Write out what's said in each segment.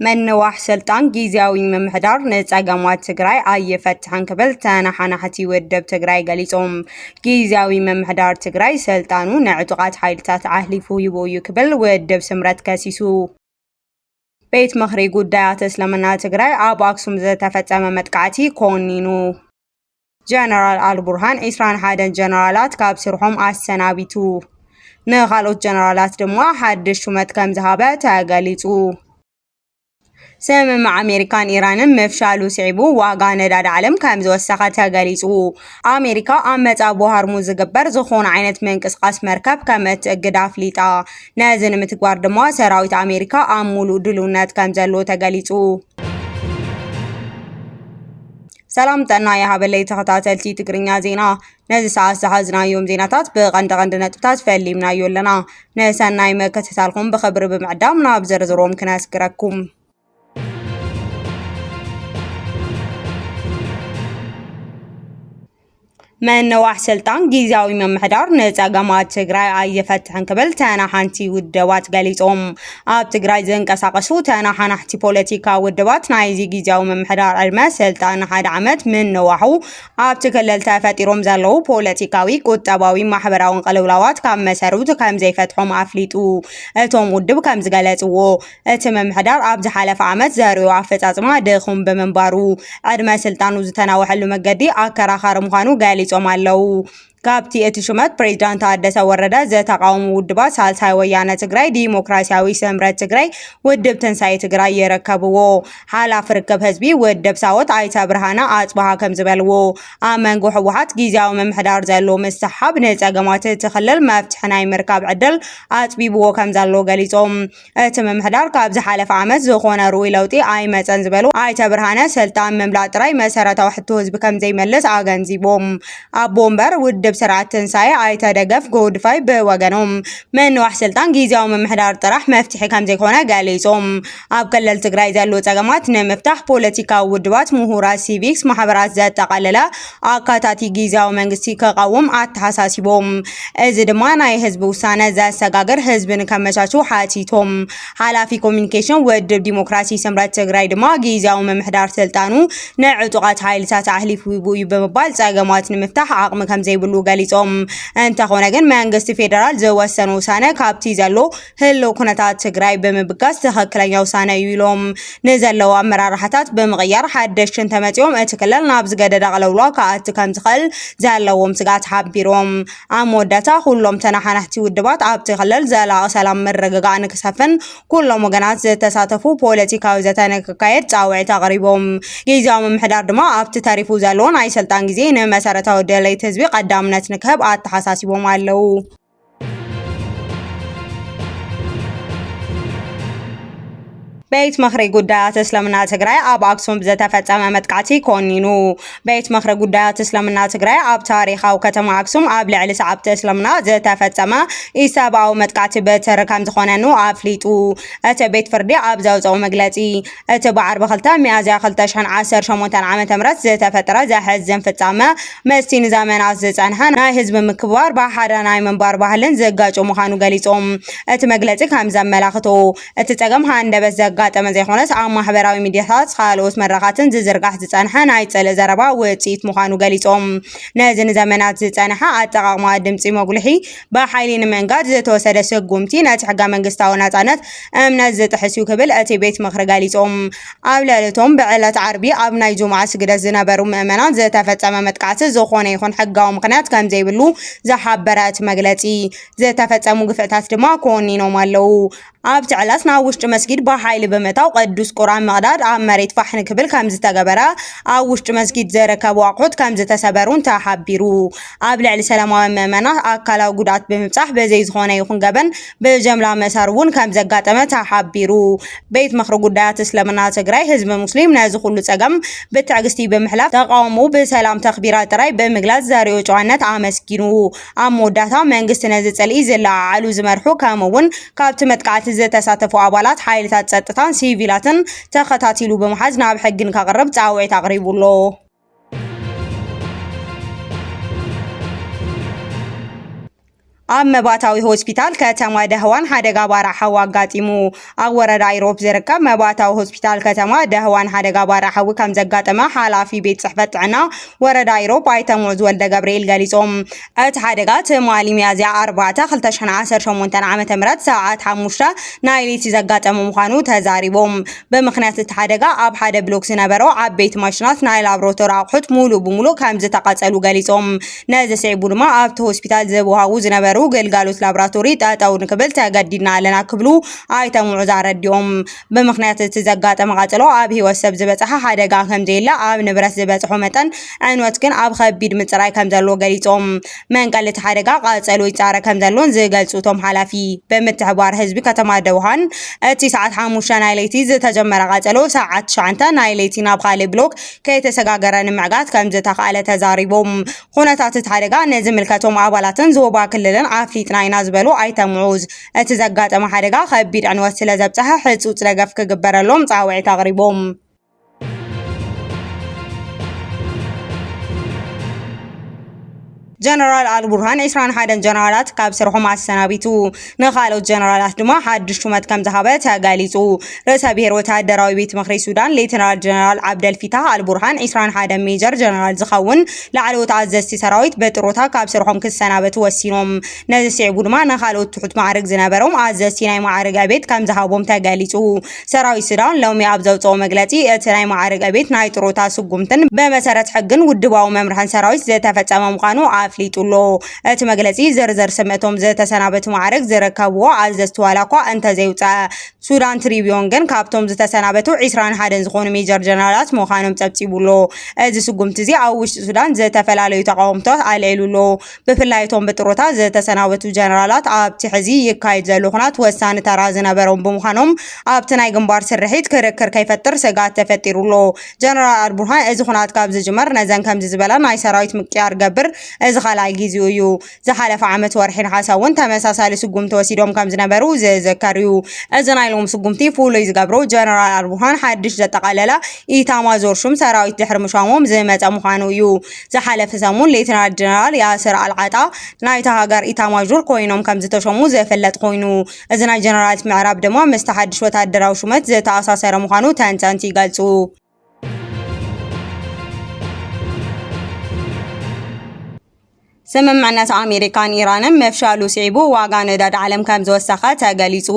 ምንዋሕ ስልጣን ጊዜያዊ ምምሕዳር ንፀገማት ትግራይ ኣይፈትሕን ክብል ተነሓናሕቲ ውድብ ትግራይ ገሊፆም። ጊዜያዊ ምምሕዳር ትግራይ ስልጣኑ ንዕጡቓት ሓይልታት ዓህሊፉ ሂቡ እዩ ክብል ውድብ ስምረት ከሲሱ። ቤት ምኽሪ ጉዳያት እስልምና ትግራይ ኣብ ኣክሱም ዝተፈፀመ መጥቃዕቲ ኮኒኑ። ጀነራል ኣልቡርሃን ዒስራን ሓደን ጀነራላት ካብ ስርሖም ኣሰናቢቱ። ንኻልኦት ጀነራላት ድማ ሓድሽ ሹመት ከም ዝሃበ ተገሊጹ። ስምምዕ ኣሜሪካን ኢራንን ምፍሻሉ ስዒቡ ዋጋ ነዳዲ ዓለም ከም ዝወሰኸ ተገሊጹ። ኣሜሪካ ኣብ መጻብቦ ሃርሙዝ ዝግበር ዝኾነ ዓይነት ምንቅስቓስ መርከብ ከም እትእግድ ኣፍሊጣ። ነዚ ንምትግባር ድማ ሰራዊት ኣሜሪካ ኣብ ሙሉእ ድልውነት ከም ዘሎ ተገሊጹ። ሰላም ጥዕና ይሃበለይ ተኸታተልቲ ትግርኛ ዜና ነዚ ሰዓት ዝሓዝናዮም ዜናታት ብቐንዲ ቀንዲ ነጥብታት ፈሊምናዮ ኣለና ንሰናይ መከተታልኩም ብኽብሪ ብምዕዳም ናብ ዝርዝሮም ክነስግረኩም ምንዋሕ ስልጣን ጊዚያዊ ምምሕዳር ንፀገማት ትግራይ ኣይፈትሕን ክብል ተናሓንቲ ውድባት ገሊፆም። ኣብ ትግራይ ዝንቀሳቐሱ ተናሓናሕቲ ፖለቲካ ውድባት ናይዚ ጊዚያዊ ምምሕዳር ዕድመ ስልጣን ንሓደ ዓመት ምንዋሑ ኣብቲ ክልል ተፈጢሮም ዘለዉ ፖለቲካዊ፣ ቁጠባዊ፣ ማሕበራውን ቅልውላዋት ካብ መሰረቱ ከምዘይፈትሖም ኣፍሊጡ። እቶም ውድብ ከምዝገለፅዎ እቲ ምምሕዳር ኣብ ዝሓለፈ ዓመት ዘርእዮ ኣፈፃፅማ ድኹም ብምንባሩ ዕድመ ስልጣኑ ዝተናወሐሉ መገዲ ኣከራኻሪ ምዃኑ ገሊፆም ኣለው። ካብቲ እቲ ሹመት ፕሬዚዳንት ታደሰ ወረደ ዘተቃውሙ ውድባት ሳልሳይ ወያነ ትግራይ፣ ዲሞክራሲያዊ ስምረት ትግራይ፣ ውድብ ትንሳኤ ትግራይ ይርከብዎ። ሓላፊ ርክብ ህዝቢ ውድብ ሳወት ኣይተ ብርሃነ ኣፅበሃ ከምዝበልዎ ኣብ መንጎ ህወሓት ጊዜያዊ ምምሕዳር ዘሎ ምስሓብ ንፀገማት እቲ ክልል መፍትሒ ናይ ምርካብ ዕድል ኣፅቢብዎ ከምዘሎ ገሊፆም። እቲ ምምሕዳር ካብ ዝሓለፈ ዓመት ዝኾነ ርኡይ ለውጢ ኣይመፀን ዝበሉ ኣይተ ብርሃነ ስልጣን ምምላእ ጥራይ መሰረታዊ ሕቶ ህዝቢ ከምዘይመልስ ኣገንዚቦም። ኣቦ ወንበር ውድብ ስርዓት ትንሳኤ ኣይተ ደገፍ ጎድፋይ ብወገኖም ምንዋሕ ስልጣን ጊዜያዊ ምምሕዳር ጥራሕ መፍትሒ ከምዘይኮነ ገሊፆም። ኣብ ክልል ትግራይ ዘለዉ ፀገማት ንምፍታሕ ፖለቲካዊ ውድባት፣ ምሁራት፣ ሲቪክስ ማሕበራት ዘጠቓለለ ኣካታቲ ጊዜያዊ መንግስቲ ከቓውም ኣተሓሳሲቦም። እዚ ድማ ናይ ህዝቢ ውሳነ ዘሰጋግር ህዝቢ ንከመቻችው ሓቲቶም። ሓላፊ ኮሚኒኬሽን ውድብ ዲሞክራሲ ስምረት ትግራይ ድማ ጊዜያዊ ምምሕዳር ስልጣኑ ንዕጡቓት ሓይልታት ኣሕሊፉ እዩ ብምባል ፀገማት ንምፍታሕ ዓቕሚ ከምዘይብሉ ገሊፆም። እንተኾነ ግን መንግስቲ ፌደራል ዝወሰኖ ውሳነ ካብቲ ዘሎ ህልው ኩነታት ትግራይ ብምብጋስ ትኽክለኛ ውሳነ እዩ ኢሎም። ንዘለዉ ኣመራርሓታት ብምቕያር ሓደሽቲ እንተመፂኦም እቲ ክልል ናብ ዝገደደ ኣቕለውሏ ክኣቲ ከምዝኽእል ዘለዎም ስግኣት ሓቢሮም። ኣብ መወዳእታ ኩሎም ተነሓናሕቲ ውድባት ኣብቲ ክልል ዘላቒ ሰላም ምርግጋእ ንክሰፍን ኩሎም ወገናት ዝተሳተፉ ፖለቲካዊ ዘተ ንክካየድ ፃውዒት ኣቕሪቦም። ጊዚያዊ ምምሕዳር ድማ ኣብቲ ተሪፉ ዘሎ ናይ ስልጣን ጊዜ ንመሰረታዊ ድሌት ህዝቢ ቐዳምነት ንክህብ ኣተሓሳሲቦም ኣለው። ቤት ምኽሪ ጉዳያት እስልምና ትግራይ ኣብ ኣክሱም ብዘተፈፀመ መጥቃዕቲ ኮኒኑ ቤት ምኽሪ ጉዳያት እስልምና ትግራይ ኣብ ታሪኻዊ ከተማ ኣክሱም ኣብ ልዕሊ ሰዓብቲ እስልምና ዝተፈፀመ ኢሰብኣዊ መጥቃዕቲ በትሪ ከም ዝኾነኑ ኣፍሊጡ እቲ ቤት ፍርዲ ኣብ ዘውፀኦ መግለፂ እቲ ብዓርቢ ክልተ ሚያዝያ ክልተ ሽሕን ዓሰርተ ሸሞንተን ዓመተ ምህረት ዝተፈጥረ ዘሕዝን ፍጻመ፣ ምስቲ ንዘመናት ዝጸንሐ ናይ ህዝቢ ምክብባር ብሓደ ናይ ምንባር ባህልን ዝጋጮ ምዃኑ ገሊጹ። እቲ መግለጺ ከም ዘመላኽቶ፣ እቲ ጸገም ሃንደበት ዘጋጠመ ዘይኮነስ ኣብ ማሕበራዊ ሚድያታትን ካልኦት መድረኻትን ዝዝርጋሕ ዝጸንሐ ናይ ጽልኢ ዘረባ ውጽኢት ምዃኑ ገሊጾም፣ ነዚ ንዘመናት ዝጸንሐ ኣጠቓቕማ ድምጺ መጉልሒ ብሓይሊ ንምእንጋድ ዝተወሰደ ስጉምቲ ነቲ ሕገ መንግስታዊ ናጻነት እምነት ዝጥሕስ እዩ ክብል እቲ ቤት ምኽሪ ገሊጹ። ኣብ ልዕሊ እቶም ብዕለት ዓርቢ ኣብ ናይ ጁምዓ ስግደት ዝነበሩ ምእመናን ዝተፈጸመ መጥቃዕቲ ዝኾነ ይኹን ሕጋዊ ምኽንያት ከምዘይብሉ ዝሓበረ እቲ መግለጺ፣ ዝተፈጸሙ ግፍዕታት ድማ ኮኒኖም ኣለዉ። ኣብቲ ዕለት ናብ ውሽጢ መስጊድ ብሓይሊ ብምእታው ቅዱስ ቁርኣን ምቕዳድ ኣብ መሬት ፋሕ ንክብል ከምዝተገበረ፣ ኣብ ውሽጢ መስጊድ ዝርከቡ ኣቑሑት ከምዝተሰበሩን ተሓቢሩ። ኣብ ልዕሊ ሰላማውያን ምእመናት ኣካላዊ ጉድኣት ብምብፃሕ ብዘይ ዝኾነ ይኹን ገበን ብጀምላ ምእሳር እውን ከምዘጋጠመ ተሓቢሩ። ቤት ምኽሪ ጉዳያት እስልምና ትግራይ ህዝቢ ሙስሊም ነዚ ኩሉ ፀገም ብትዕግስቲ ብምሕላፍ ተቓውሞኡ ብሰላም ተኽቢራ ጥራይ ብምግላፅ ዘሪኦ ጨዋነት ኣመስጊኑ። ኣብ መወዳእታ መንግስቲ ነዚ ጽልኢ ዝለዓዓሉ ዝመርሑ ከምኡ'ውን ካብቲ መጥቃዕቲ ዝተሳተፉ ኣባላት ሓይልታት ጸጥታን ሲቪላትን ተኸታቲሉ ብምሓዝ ናብ ሕጊ ንከቕርብ ጻውዒት ኣቕሪቡ ኣሎ። ኣብ መባእታዊ ሆስፒታል ከተማ ደህዋን ሓደጋ ባርዕ ሓዊ ኣጋጢሙ። ኣብ ወረዳ ኢሮብ ዝርከብ መባእታዊ ሆስፒታል ከተማ ደህዋን ሓደጋ ባራ ሓዊ ከም ዘጋጠመ ሓላፊ ቤት ጽሕፈት ጥዕና ወረዳ ኢሮብ ኣይተ ሙዕዝ ወልደ ገብርኤል ገሊጾም። እቲ ሓደጋ ትማሊ ሚያዝያ ኣርባዕተ ክልተ ሽሕን ዓሰርተ ሸሞንተን ዓመተ ምህረት ሰዓት ሓሙሽተ ናይ ለይቲ ዘጋጠመ ምዃኑ ተዛሪቦም። ብምኽንያት እቲ ሓደጋ ኣብ ሓደ ብሎክ ዝነበሩ ዓበይቲ ማሽናት ናይ ላብራቶሪ ኣቑሑት ሙሉእ ብሙሉእ ከም ዝተቓጸሉ ገሊጾም። ነዚ ስዒቡ ድማ ኣብቲ ሆስፒታል ዝወሃቡ ዝነበሩ ግልጋሎት ላቦራቶሪ ጠጠው ንክብል ተገዲድና ኣለና ክብሉ ኣይተ ሙዑዝ ኣረዲኦም። ብምኽንያት እቲ ዘጋጠመ ቃፀሎ ኣብ ህይወት ሰብ ዝበፅሐ ሓደጋ ከምዘየለ ኣብ ንብረት ዝበፅሖ መጠን ዕንወት ግን ኣብ ከቢድ ምፅራይ ከምዘሎ ገሊፆም። መንቀሊ እቲ ሓደጋ ቃፀሎ ይፃረ ከምዘሎን ዝገልፁ እቶም ሓላፊ ብምትሕብባር ህዝቢ ከተማ ደውሃን እቲ ሰዓት ሓሙሽተ ናይ ለይቲ ዝተጀመረ ቃፀሎ ሰዓት ትሽዓተ ናይ ለይቲ ናብ ካልእ ብሎክ ከይተሰጋገረ ንምዕጋት ከምዝተኻእለ ተዛሪቦም። ኩነታት እቲ ሓደጋ ንዝምልከቶም ኣባላትን ዞባ ክልልን ኣፍሊጥና ኢና ዝበሉ ኣይተ ሙዑዝ፣ እቲ ዘጋጠመ ሓደጋ ከቢድ ዕንወት ስለዘብፀሐ ህፁፅ ደገፍ ክግበረሎም ፃውዒት ኣቕሪቦም። ጀነራል ኣልቡርሃን 21 ጀነራላት ካብ ስርሖም ኣሰናቢቱ ንካልኦት ጀነራላት ድማ ሓድሽ ሹመት ከም ዝሃበ ተገሊጹ። ርእሰ ብሔር ወተሃደራዊ ቤት ምኽሪ ሱዳን ሌተናል ጀነራል ዓብደል ፊታህ ኣልቡርሃን 21 ሜጀር ጀነራል ዝኸውን ላዕለዎት ኣዘዝቲ ሰራዊት በጥሮታ ካብ ስርሖም ክሰናበቱ ወሲኖም። ነዚ ስዒቡ ድማ ንካልኦት ትሑት ማዕርግ ዝነበሮም ኣዘዝቲ ናይ ማዕርግ ዕቤት ከም ዝሃቦም ተገሊጹ። ሰራዊት ሱዳን ሎሚ ኣብ ዘውጽኦ መግለጺ፣ እቲ ናይ መዓርግ ዕቤት ናይ ጥሮታ ስጉምትን ብመሰረት ሕግን ውድባዊ መምርሕን ሰራዊት ዝተፈጸመ ምዃኑ ኣፍሊጡ ኣሎ። እቲ መግለጺ፣ ዝርዝር ስም እቶም ዝተሰናበቱ መዓርግ ዝርከብዎ ኣዘዝቲ ዋላኳ እንተዘይውጸኣ፣ ሱዳን ትሪብዮን ግን ካብቶም ዝተሰናበቱ ዕስራን ሓደን ዝኾኑ ሜጀር ጀነራላት ምዃኖም ጸብጺቡ ኣሎ። እዚ ስጉምቲ'ዚ ኣብ ውሽጢ ሱዳን ዝተፈላለዩ ተቓውሞታት ኣልዒሉ ኣሎ። ብፍላይ እቶም ብጥሮታ ዝተሰናበቱ ጀነራላት ኣብቲ ሕዚ ይካየድ ዘሎ ኩናት ወሳኒ ተራ ዝነበሮም ብምዃኖም ኣብቲ ናይ ግንባር ስርሒት ክርክር ከይፈጥር ስግኣት ተፈጢሩ ኣሎ። ጀነራል ኣልቡርሃን እዚ ኩናት ካብ ዝጅመር ነዘን ከምዚ ዝበላ ናይ ሰራዊት ምቅያር ገብር እዚ ካልኣይ ጊዜኡ እዩ። ዝሓለፈ ዓመት ወርሒ ነሓሰ እውን ተመሳሳሊ ስጉምቲ ወሲዶም ከም ዝነበሩ ዝዝከር እዩ። እዚ ናይ ሎሚ ስጉምቲ ፍሉይ ዝገብሮ ጀነራል ኣልቡርሃን ሓድሽ ዘጠቓለለ ኢታማዦር ሹም ሰራዊት ድሕሪ ምሿሞም ዝመፀ ምዃኑ እዩ። ዝሓለፈ ሰሙን ሌተናል ጀነራል ያስር ኣልዓጣ ናይታ ሃገር ኢታማዦር ኮይኖም ከም ዝተሸሙ ዘፈለጥ ኮይኑ እዚ ናይ ጀነራላት ምዕራብ ድማ ምስቲ ሓድሽ ወታደራዊ ሹመት ዝተኣሳሰረ ምዃኑ ተንተንቲ ይገልጹ። ስምምዕነት ኣሜሪካን ኢራንን ምፍሻሉ ስዒቡ ዋጋ ነዳዲ ዓለም ከም ዝወሰኸ ተገሊጹ።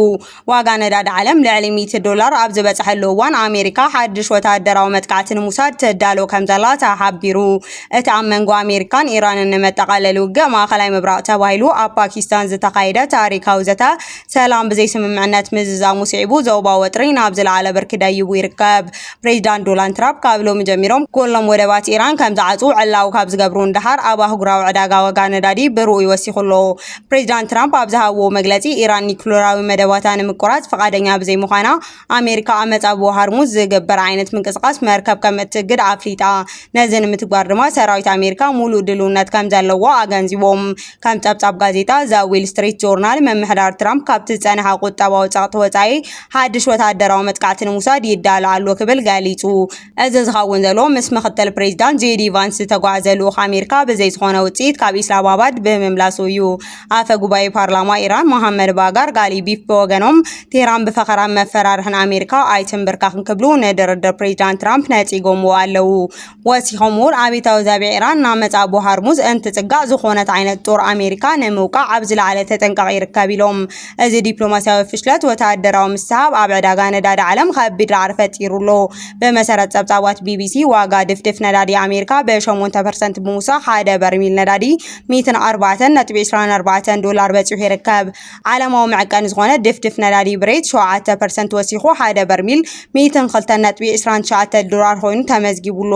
ዋጋ ነዳዲ ዓለም ልዕሊ ሚእቲ ዶላር ኣብ ዝበጽሐሉ እዋን ኣሜሪካ ሓድሽ ወተሃደራዊ መጥቃዕቲ ንምውሳድ ትዳሎ ከም ዘላ ተሓቢሩ። እቲ ኣብ መንጎ ኣሜሪካን ኢራንን ንመጠቓለሊ ውግእ ማእኸላይ ምብራቕ ተባሂሉ ኣብ ፓኪስታን ዝተኻየደ ታሪካዊ ዘተ ሰላም ብዘይስምምዕነት ምዝዛሙ ስዒቡ ዞባዊ ወጥሪ ናብ ዝለዓለ ብርኪ ደይቡ ይርከብ። ፕሬዚዳንት ዶናልድ ትራምፕ ካብ ሎሚ ጀሚሮም ኩሎም ወደባት ኢራን ከም ዝዓፅው ዕላዊ ካብ ዝገብሩ ንደሓር ኣብ ኣህጉራዊ ዕዳጋ ዋጋ ነዳዲ ብርኡይ ወሲኹ ኣሎ። ፕሬዚዳንት ትራምፕ ኣብ ዝሃብዎ መግለፂ ኢራን ኒኩሌራዊ መደባታ ንምቁራፅ ፍቓደኛ ብዘይምዃና ኣሜሪካ ኣብ መፃብቦ ሃርሙዝ ዝግበር ዓይነት ምንቅስቓስ መርከብ ከም እትእግድ ኣፍሊጣ። ነዚ ንምትግባር ድማ ሰራዊት ኣሜሪካ ሙሉእ ድልውነት ከም ዘለዎ ኣገንዚቦም። ከም ፀብፃብ ጋዜጣ ዘ ዊል ስትሪት ጆርናል ምምሕዳር ትራምፕ ካብቲ ዝፀንሐ ቁጠባዊ ፀቕጢ ወፃኢ ሓድሽ ወታደራዊ መጥቃዕቲ ንምውሳድ ይዳሎ ኣሎ ክብል ገሊፁ። እዚ ዝኸውን ዘሎ ምስ ምኽትል ፕሬዚዳንት ጄዲ ቫንስ ዝተጓዕዘ ልኡኽ ኣሜሪካ ብዘይ ዝኾነ ውፅኢት ካብ ኢስላማባድ ብምምላሱ እዩ። ኣፈ ጉባኤ ፓርላማ ኢራን መሃመድ ባጋር ጋሊቢፍ ብወገኖም ቴህራን ብፈኸራን መፈራርሕን ኣሜሪካ ኣይትምብርካኽን ክብሉ ንድርድር ፕሬዚዳንት ትራምፕ ነፂጎምዎ ኣለዉ። ወሲኾም እውን ኣብታዊ ዛቢዕ ኢራን እናመፅኣ ኣቦ ሃርሙዝ እንትፅጋዕ ዝኾነት ዓይነት ጦር ኣሜሪካ ንምውቃዕ ኣብ ዝለዓለ ተጠንቀቕ ይርከብ ኢሎም። እዚ ዲፕሎማስያዊ ፍሽለት ወተሃደራዊ ምስሕብ ኣብ ዕዳጋ ነዳዲ ዓለም ከቢድ ራዕዲ ፈጢሩ ኣሎ። ብመሰረት ጸብጻባት ቢቢሲ፣ ዋጋ ድፍድፍ ነዳዲ ኣሜሪካ ብሸሞንተ ፐርሰንት ብምውሳኽ ሓደ በርሚል ነዳዲ ሚእትን ኣርባዕተን ነጥቢ ዕስራን ኣርባዕተን ዶላር በጺሑ ይርከብ። ዓለማዊ መዐቀኒ ዝኾነ ድፍድፍ ነዳዲ ብሬት ሸውዓተ ፐርሰንት ወሲኹ ሓደ በርሚል ሚእትን ክልተን ነጥቢ ዕስራን ትሽዓተን ዶላር ኮይኑ ተመዝጊቡ ኣሎ።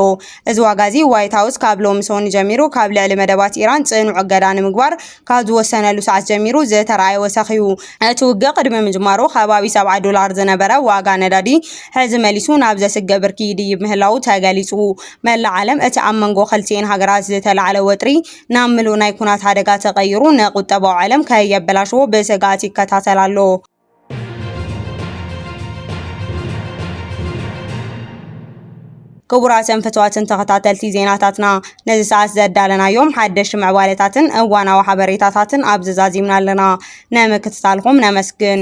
እዚ ዋጋ'ዚ ዋይት ሃውስ ካብ ሎሚ ሰኑይ ጀሚሩ ካብ ልዕሊ መደባት ኢራን ጽኑዕ እገዳ ንምግባር ካብ ዝወሰነሉ ሰዓት ጀሚሩ ዝተርኣየ ወሰኽ'ዩ። እቲ ውግእ ቅድሚ ምጅማሩ ከባቢ ሰብዓ ዶላር ዝነበረ ዋጋ ነዳዲ፣ ሕዚ መሊሱ ናብ ዘስግእ ብርኪ ይድይብ ምህላዉ ተገሊጹ። መላእ ዓለም እቲ ኣብ መንጎ ክልቲኤን ሃገራት ዝተላዕለ ወጥሪ ናብ ምሉእ ናይ ኲናት ሓደጋ ተቐይሩ ንቁጠባዊ ዓለም ከየበላሽዎ ብስግኣት ይከታተል ኣሎ። ክቡራትን ፍትዋትን ተኸታተልቲ ዜናታትና ነዚ ሰዓት ዘዳለናዮም ሓደሽቲ ምዕባለታትን እዋናዊ ሓበሬታታትን ኣብዚ ዛዚምና ኣለና ንምክትታልኩም ነመስግን